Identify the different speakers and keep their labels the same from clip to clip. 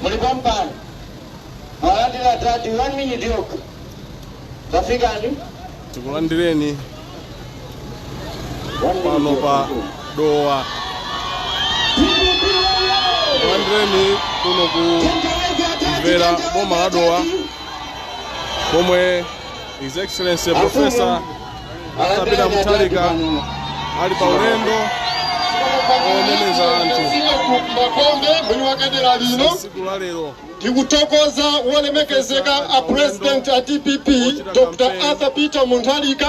Speaker 1: muli pampano mwalandira tati 1 minute yokha tafikani tikulandireni
Speaker 2: pano pa dowa tikulandireni kuno ku mvera boma la dowa komwe his excellency professor Arthur Peter Mutharika ali pa ulendo omeneza anthu makombe
Speaker 3: mwini wake dera lino ndikuthokoza wolemekezeka a president a dpp dr arthur peter mutharika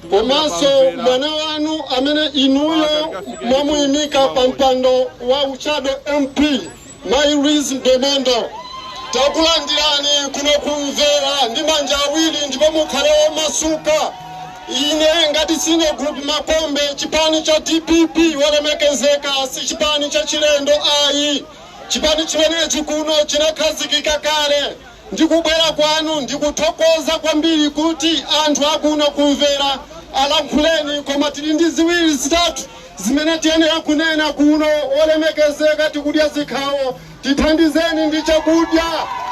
Speaker 3: komanso mwana wanu amene inuyo mwamuyimika pa mpando wa ushado mp Mayi Louise Mdomondo, takulandirani kuno ku Mvera ndi manja awiri ndipo mukhale omasuka. Ine ngati Senior Group Makombe, chipani cha dpp olemekezeka si chipani chachilendo ayi. Chipani chimenechi kuno chinakhazikika kale. Ndi kubwera kwanu ndikuthokoza kwambiri kuti anthu akuno ku Mvera alankhuleni koma tili ndi ziwiri zitatu Zimene tiyenera kunena kuno, Olemekezeka, tikudya zikhawo, tithandizeni ndi chakudya,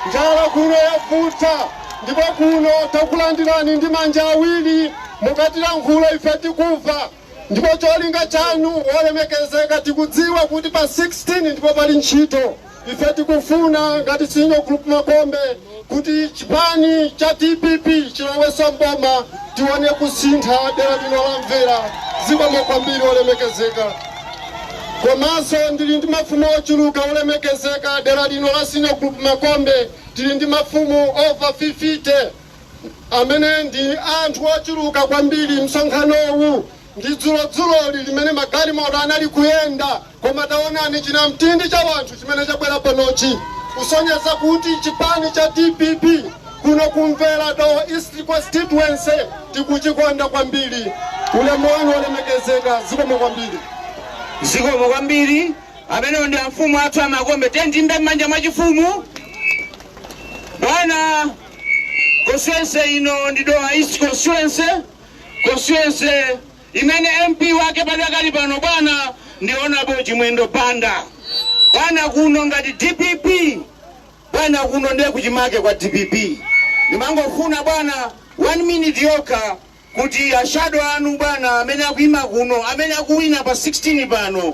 Speaker 3: njala kuno yavuta, ndipo kuno takulandirani ndi manja awiri, mukatilankhula ife tikuva, ndipo cholinga chanu, olemekezeka, tikudziwa kuti pa 16 ndipo pali ntchito. Ife tikufuna ngati Senior Group Makombe kuti chipani cha dpp chiloweso m'boma tione kusintha dera lino la Mvera. Zikomo kwambiri olemekezeka. Komanso ndili ndi mafumu ochuluka olemekezeka dera lino la Senior Group Makombe tili ndi mafumu over 50 amene ndi anthu ochuluka kwambiri msonkhanowu. Ndi dzulodzuloli limene magalimoto anali kuyenda, koma tangoonani chinamtindi cha wanthu chimene chabwera panochi kusonyeza kuti chipani cha dpp kuno ku Mvera Dowa East Constituency tikuchikonda kwambiri. Ulemu wanu olemekezeka. Zikomo kwambiri.
Speaker 1: Zikomo kwambiri. Amenewo ndi amfumu athu a Makombe. Tiyeni tiimbe m'manja mwachifumu. Bwana, constituency ino ndi Dowa East Constituency. constituency imene mp wake padakali pano bwana ndi honorable chimwendo banda bwana kuno ngati dpp bwana kuno ndiye kuchimake kwa dpp ndimangofuna bwana one minute yokha kuti ashado anu bwana amene akuima kuno amene akuwina pa 16 pano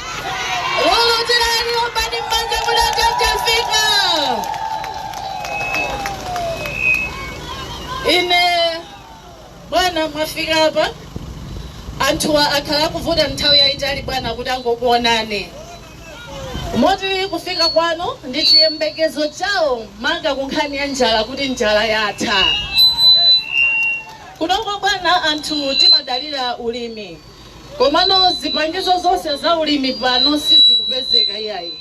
Speaker 4: Lulutirani, ombani m'manja mula tafika. Ine bwana, mwafika apa. Anthuwa akhala akuvuta nthawi yayitali bwana kuti angokuonani. Moti kufika kwanu ndi chiyembekezo chawo maka ku nkhani ya njala, kuti njala yatha. Kunoko bwana anthu timadalira ulimi. Komano zipangizo zonse za ulimi pano sizikupezeka iyayi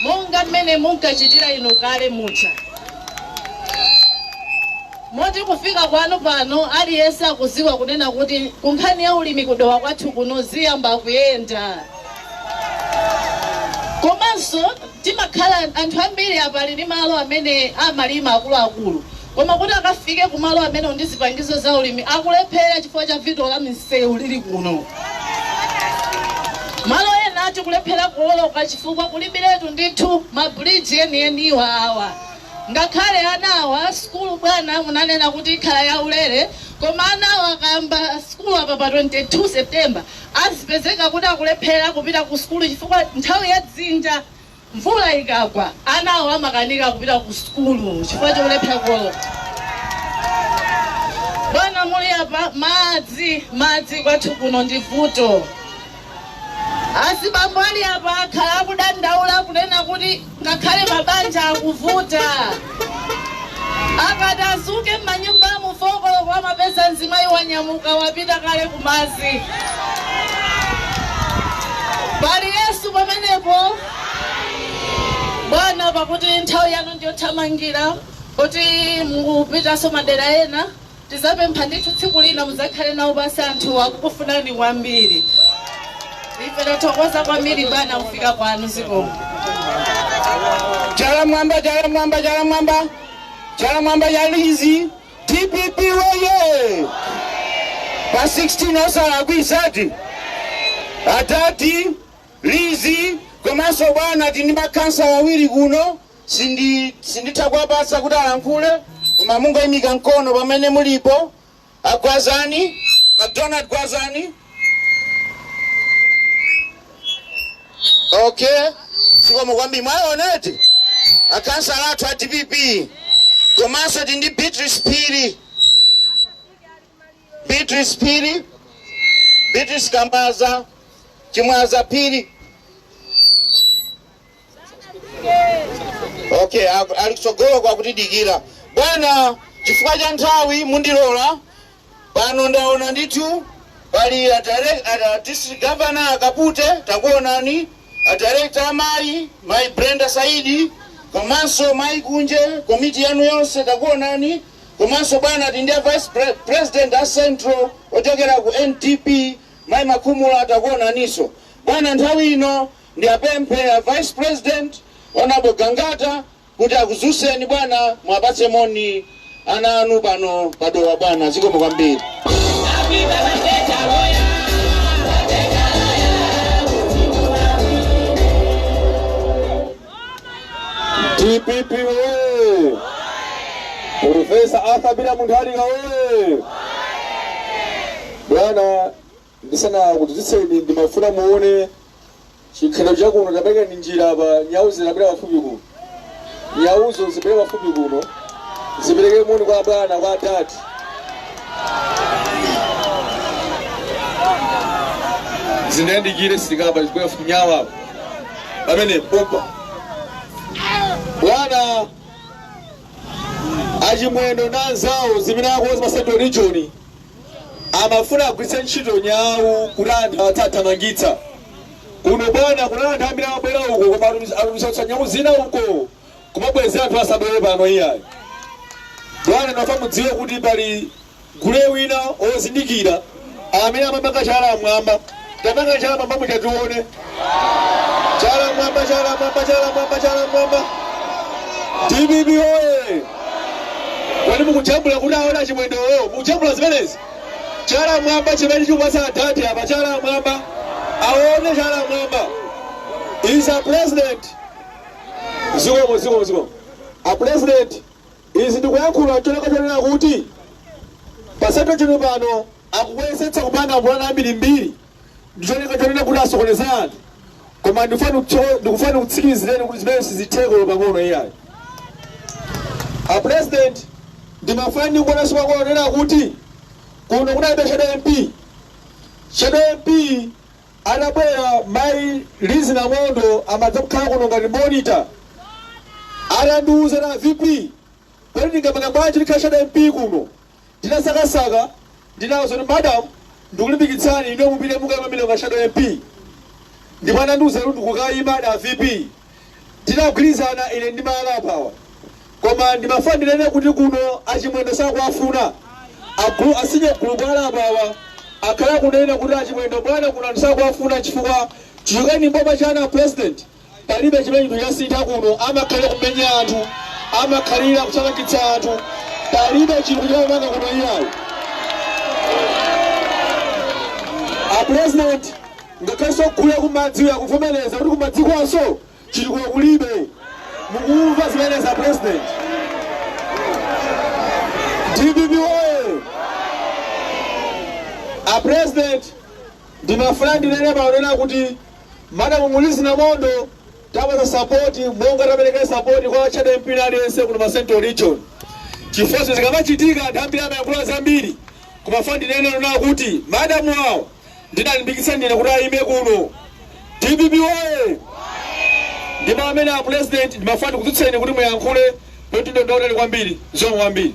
Speaker 4: monga mmene munkachitira inu kale muja moti kufika kwanu pano aliyense akudziwa kunena kuti kunkhani ya ulimi ku Dowa kwathu kuno ziyamba kuyenda. Komanso timakhala anthu ambiri apa ali ndi malo amene amalima akuluakulu Koma kuti akafike ku malo amenewo ndi zipangizo za ulimi akulephera chifukwa cha vuto la misewu lili kuno. Malo ena tikulephera kuwoloka chifukwa kulibiretu ndithu ma bridge enieniwa awa. Ngakhale ana awa, sukulu bwana munanena kuti ikhala ya ulere, koma anawa akayamba sukulu apa pa 22 September azipezeka kuti akulephera kupita ku sukulu chifukwa nthawi ya dzinja. Mvula ikagwa, anawa amakanika kupita ku sukulu chifukwa cholephera kuwoloka. Bwana muli apa, madzi, madzi kwathu kuno ndi vuto. Azibambo ali apa akhala akudandaula kunena kuti ngakhale mabanja akuvuta. Akadzadzuka m'manyumbamu 4 koloko amapeza mzimayi wanyamuka wapita kale kumadzi. Pali Yesu pamenepo? Bwana, pakuti nthawi yanu ndiyothamangira kuti mukupitanso madera ena. Tizapempha ndithu tsiku lina muzakhale nawo pansi anthuwa akukufunani kwambiri ife tathokoza kwambiri bwana kufika kwanu zikomo.
Speaker 1: Chala mwamba, chala mwamba, chala mwamba, chala mwamba ya Lizzy DPP weye! Pa 16 osalakwisa ati atati Lizzy komanso bwana ati ndi makhansala awiri kuno Sinditha kuwapatsa kuti alankhule koma mungoyimika mkono pamene mulipo agwazani mcdonald gwazani okay zikomo kwambiri mwaoneti akhansala athu a dpp komanso tili ndi beatrice phiri beatrice phiri beatrice kamaza chimwaza phiri okay aku- ali kutsogolo kwa kutidikira bwana chifukwa cha nthawi mundilola pano ndaona ndithu pali a direct- a- a district governor akapute takuonani a director amayi mayi brenda saidi komanso mayi kunje komiti yanu yonse takuonani komanso bwana tindi a vice pre- president a central ochokera ku ndp mayi makhumula takuonaninso bwana nthawi ino Ndiapemphe a vice president, Honourable Gangata, kuti akudzutseni bwana muwapatse moni ana anu pano pa Dowa bwana. Zikomo kwambiri. Dpp woyee! Professor
Speaker 3: Arthur Peter Mutharika woyee! Bwana Ndisanakudzutseni ndimafuna muone chikhalidwe cha kuno. Taperekani njira apa. Nyau zitabwera pafupi kuno. Nyauzo zibwere pafupi kuno. Zipereke moni kwa bwana, kwa dad. Zindiyandikire silikapa zibwere pafupi nyau apa. Pamene pompa. Bwana achimwendo na anzawo zimene akonza pa Central Region Amafuna agwiritse ntchito nyau kuti anthu athu athamangitsa. Kuno bwana kunali anthu ambiri amabwera uko koma atumiza nyau zina uko kumabwezera anthu asabwere pano iyayi. Bwana ndimafuna mudziwe kuti pali gule wina ozindikira amene amapanga chala mwamba. Tapangani chala mwamba muja tione. Chala mwamba, chala mwamba, chala mwamba, chala mwamba. Dpp oye! Kodi mukujambula kuti aone achimwendowo? Mukujambula zimenezi? Chala mwamba chimene chikupatsa adadi apa chala mwamba. Aone chala mwamba. Is a president. Zikomo zikomo zikomo. A president izi ndikuyankhula cholinga chonena kuti pa Central Region pano Akuyesetsa kupanga mapulani ambirimbiri ndi cholinga chonena kuti asokoneze anthu, koma ndikufuna ndikutsikimizireni kuti zimenezo sizitheka olo pang'ono iyayi. A President, ndimafuna ndingonenanso kwa kunena kuti kuno kunalibe shadow MP. Shadow MP adabwera Mayi Lizzie Ndomondo amadza kukhala kuno ngati monitor. Anandiuza a VP, kodi ndingapanga bwanji kuti ndikhale shadow MP kuno? Ndinasakasaka ndinamva zoti madam ndikulimbikitsani inuyo mupite mukaime kumeneko ngati shadow MP ndipo anandiuza kuti ndikukaima a VP tinagwirizana ine ndi mayi ali apawa koma ndimafuna ndinene kuti kuno achimwendo sakuwafuna agulu a senior gulupu ali apawa akhala akunena kuti achimwendo bwana kuno anthu sakuwafuna chifukwa chichokereni m'boma chana president Palibe chimene chinthu chasintha kuno. Amakhalira kumenya anthu, amakhalira kuthamangitsa anthu. Palibe chinthu chamangidwa kuno iyayi. A president ngakhalenso gule kumadzi uyu akuvomereza kuti kumadzikonso chitukuko kulibe. Mukumva zimenezi a president? DPP oye! A president ndimafuna ndinene paonena kuti Madam Lizi Ndomondo tapatsa support monga tapelekela support kwa Shadow MP wina aliyense kuno pa Central Region chifukwa zinthu zikamachitika anthu ambiri amayankhula zambiri koma ndimafuna ndinene ponena kuti madam wawo ndinalimbikitsa ndine kuti ayime kuno dpp woye ndipo amene a president ndimafuna ndikudzutseni kuti muyankhule kuti ndondaonani kwambiri zikomo kwambiri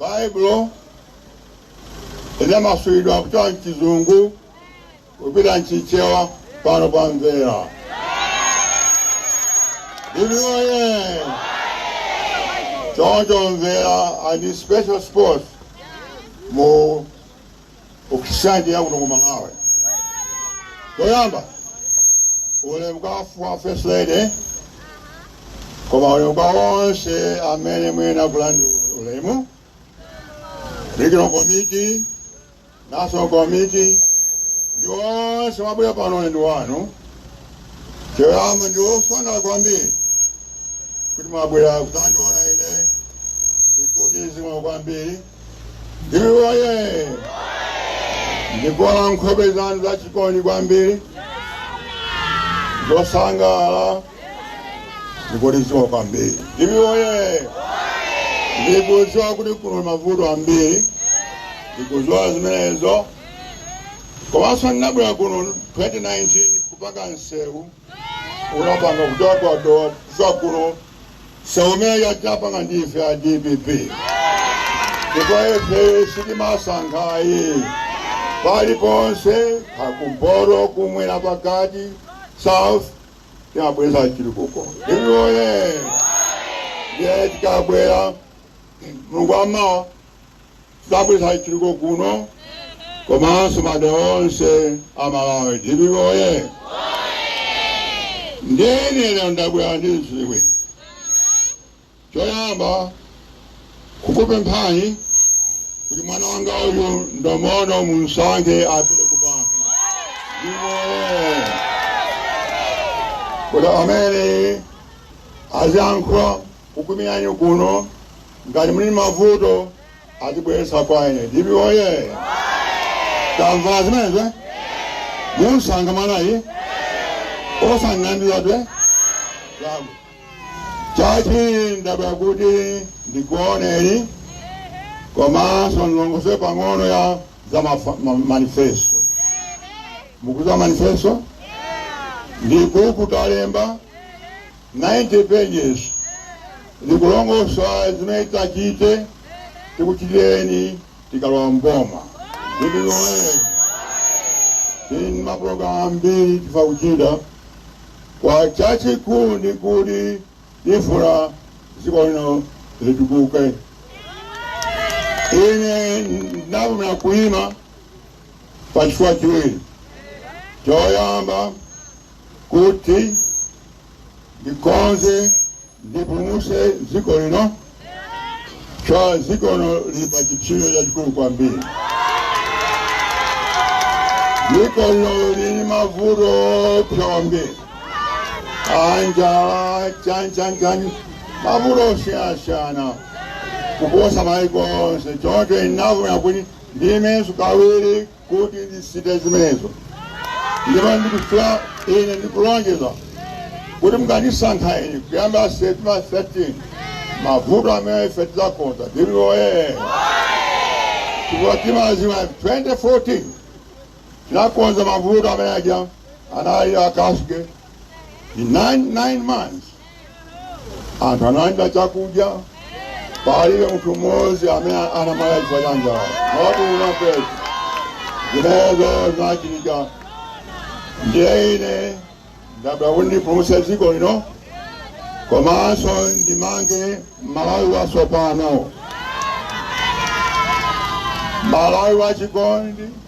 Speaker 3: Baibulo linamasulidwa kuchoka m'Chizungu kupita m'Chichewa pano pa Mvera. DPP oye choncho Mvera ali ndi special spot mu Christianity yakuno ku malawi choyamba ulemu kwa first lady koma ulemu kwa onse amene muyenera kulandira ulemu regional committee national committee ndi onse mwabwera pano ndi wanu choyamba ndasangalala kwambiri kuti mwabwera kudzandiona ine ndikuti zimwe kwambiri DPP oye! Ndikuona nkhope zanu zachikondi kwambiri zosangalala ndikulidziwa kwambiri. DPP oye! Ndikudziwa kuti kuno mavuto ambiri ndikudziwa zimenezo komanso ndinabwera kuno 2019 kupanga nsewu unapanga kutokwatowa zakulo nsewu umeneu tinapanga ndife a dpp ndipo ife sitimasankha ayi paliponse kumpoto kumwera pakati south tinabweretsa chitukuko DPP woye ndiye tikabwera mulungu amawa tizabweretsa chitukuko kuno komanso madera onse a Malawi. Dpp oye! Ndine lero ndabwera ndi zinthu ziwiri. Choyamba kukupemphani kuti mwana wanga uyu Ndomondo mumsankhe apite ku bambo. Dpp oye! Kuti amene aziyankhula Kukumilanyu kuno ngati muli mavuto atibweretsa kwa ine DPP oye tamva zimenezo eh? munsankha mwanayi osang'andizadwe lamu chachiwiri ndabwera kuti ndikuoneni komanso ndilongosole pang'ono ya za mafa- ma- manifesto mukudziwa manifesto ndi buku talemba 90 pages likulongosola zimene titachite tikuchitireni tikalowa mboma DPP oye tili ndi mapulogalamu ambiri tifuna kuchita koma chachikulu ndi kuti tifuna dziko lino litukuke ine ndavomera kuima pa chifukwa chiwiri choyamba kuti ndikonze ndipulumutse dziko lino chifukwa dziko lino lili pa chipsinjo chachikulu kwambiri dziko lino lili ndi mavuto oopsa kwambiri anjala chani chani chani mavuto osiyanasiyana kuposa maiko onse choncho ndinavomera kuti ndiimenso kawiri kuti ndisinthe zimenezo ndipo ndikufuna ine ndikulonjeza kuti mukandisankha ine kuyamba septemba 13 mavuto amene ife tidzakonza DPP oye chifukwa timadziwa 2014 tinakonza mavuto amene aja anali akasuke in nine, nine months anthu analandira chakudya palibe munthu mmodzi amene anamwalira chifukwa cha njala mwakunapetu zimenezo zinachitika ndiye ine ndabwera kuti ndipulumutse dziko lino komanso ndimange malawi watsopano malawi wachikondi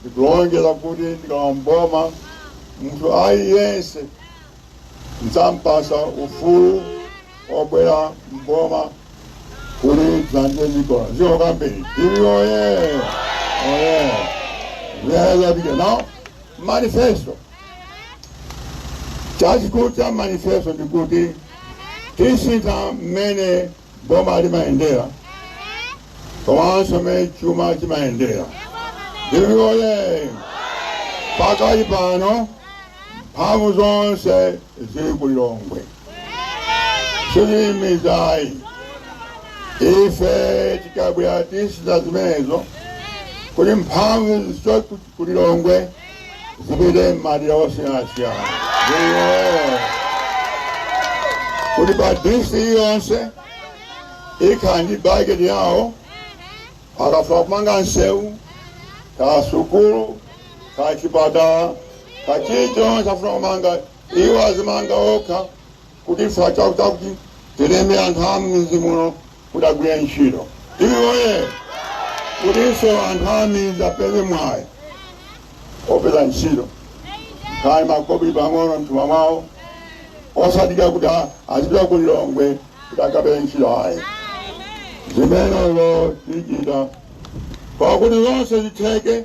Speaker 5: ndikulonjeza kuti ndikalowa m'boma munthu aliyense ndidzampatsa ufulu obwera m'boma kuti dzandile mikola ziko kwambiri DPP oye oye zazapita nawo manifesto chachikulu cha manifesto ndikuti tisintha mmene boma limayendera komanso mmene chuma chimayendera DPP oye pakali pano mphamvu zonse zili ku lilongwe siziyimizayi ife tikabwera tisintha zimenezo kuti mphamvu zichoke ku Lilongwe zipite m'madera osiyanasiyana kuti pa district yonse ikhala ndi bajeti yawo akafuna kumanga nsewu ka sukulu ka chipatala ka chilichonse afuna kumanga iwo azimanga okha kuti ife chakuti tilembe anthu a m'midzi muno kuti agwire ntchito iwowo kutinso anthu a midzi apeze mwayi opeza ntchito kaya makobiri pang'ono mthumba mwawo osadikira kuti a- azipita ku lilongwe kuti akapeze ntchito ayi zimenezo tichita pakuti zonse zitheke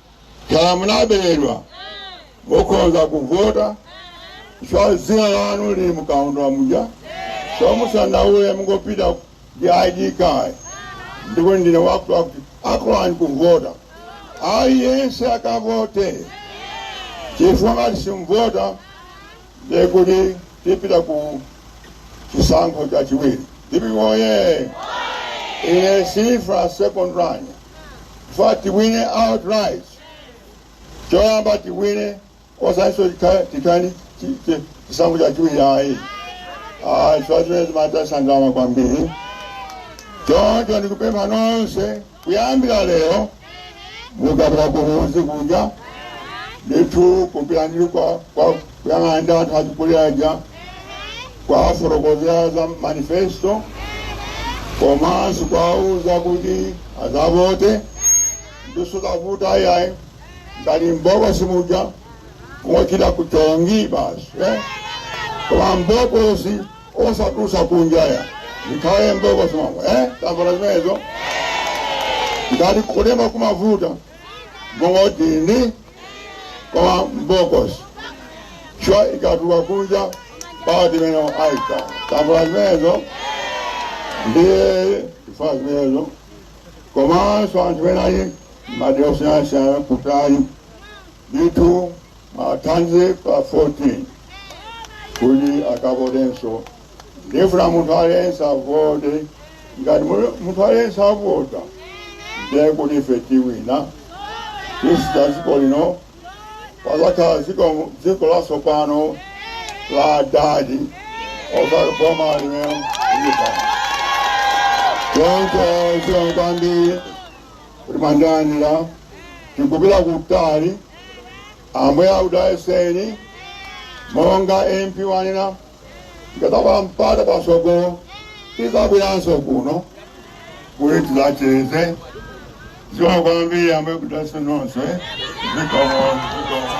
Speaker 5: Kaya munaberedwa, mukhonza kuvota chifukwa dzina lanu lili mkaundula muja, so musandaule mungopita ndi ID card ndikuti ndine wakutiwakuti akulolani kuvota. Aliyense akavote chifukwa ngati simuvota ndiye kuti tipita ku chisankho chachiwiri ndipo moti ine sindifuna second run ndifuna tiwine outright choyamba tiwine osatinso titani chisankho chachiwiri ayi chifukwa zimenezo zimataya ndalama kwambiri choncho ndikupempha nonse Kuyambira lero mukapita kumudzi kuja ndithu kupita ndi kwa kwa kuyang'ana ndi anthu achikulire aja kuwafotokozera za manifesto komanso kuwauza kuti azavote ndizosavuta ayayi ndi mbokosi muja ngochita kuchonga basi eh? koma mbokosi osatulutsa kunja ayi zikhale mbokosi momwemo eh? tambala zimenezo ngati kulemba kumavuta mungodinda koma mbokosi chifukwa ikatuluka kunja pamene aika tambala zimenezo ndiye ifa imeneyo komanso anthu ena ali madera osiyanasiyana kutali ndithu athandizeni pa 14 kuti akavotenso ndifuna munthu aliyense avote ngati mu- munthu aliyense avota ndiye kuti ife tiwina tisintha dziko lino pazakhala dziko dziko latsopano la adadi osati boma limene lilipoli choncho zikomo kwambiri kuti mwandilandira tikupita kutali ambuye akudalitseni monga mp wanena ndikapeza mpata pasogolo tizabweranso kuno kuti tizacheze zikomo kwambiri ambuye akudalitseni nonse zikomo zikomo